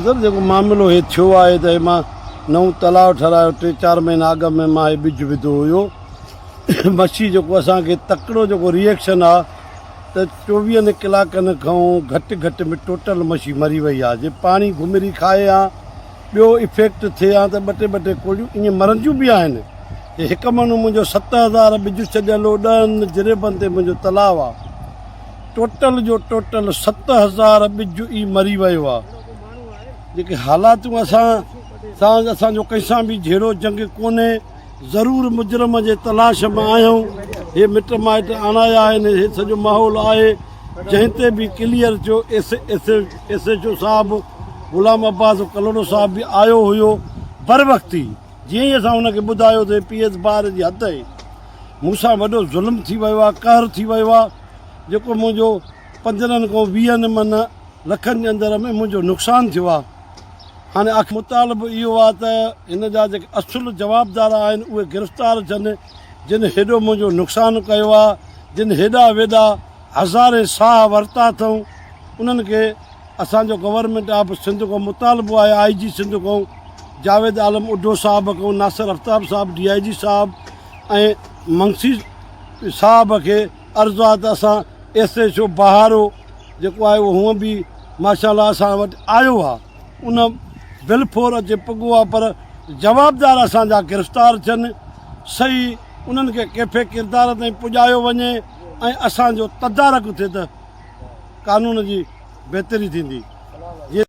سر جيڪو معاملو هي ٿيو آهي ته هي مان نئون تلاء ٺهرايو ٽي چار مهينا اڳ ۾ مان هي ٻج وڌو هيو مڇي جيڪو اسان کي تڪڙو جيڪو ريئڪشن آ ته چوويهن ڪلاڪن کئون گهٽ گهٽ ۾ ٽوٽل مڇي مري وئي آ جي پاڻي گهمري کائي هان ٻيو افيڪٽ ٿئي هان ته ٻه ٽي ٻه ٽي ڪوڙيون ائين مرنديون به آهن جي هڪ مهنو منهنجو ست هزار ٻج ڇڏيل هو ڏهن جريبن تي منهنجو تلاء آ ٽوٽل جو ٽوٽل ست هزار ٻج ئي مري ويو آهي جيڪي حالاتون اسان سان اسان جو ڪنهن سان به جهيڙو جنگ ڪونهي ضرور مجرم جي تلاش ۾ آهيون هي مٽ مائٽ آڻايا آهن هي سڄو ماحول آهي جنهن تي به ڪليئر ٿيو S S S H O صاحب غلام عباس ڪلوڙو صاحب به آيو هيو بر وقت ئي جيئن ئي اسان هن کي ٻڌايو ته پي ايس بار جي حد آهي مون سان وڏو ظلم ٿي ويو آهي قهر ٿي ويو آهي جيڪو منهنجو پندرهن کان ويهن من لکن جي اندر ۾ منهنجو نقصان ٿيو آهي هاڻي آخر مطالبو اهو آهي ته هن جا جيڪي اصل جوابدار آهن اهي گرفتار ٿين جن هيڏو منهنجو نقصان ڪيو آهي جن هيڏا ويڏا هزارين ساهه ورتا اٿئون انهن کي اسان جو گورنمينٽ آف سنڌ کان مطالبو آهي آئي جي سنڌ کان جاويد عالم اڍو صاحب کان ناصر افتاب صاحب ڊي آئي جي صاحب ۽ منسي صاحب کي عرض آ ته اسان ايس ايڇ او بهارو جيڪو آهي اهو هونء به ماشاء الله اسان وٽ آيو آ ان بلفور اچي پڳو آ پر جوابدار اسان جا گرفتار ٿين صحيح انهن کي ڪيفي ڪردار تائين پڄايو وڃي ۽ اسان جو تدارڪ ٿئي ته قانون جي بهتري ٿيندي جي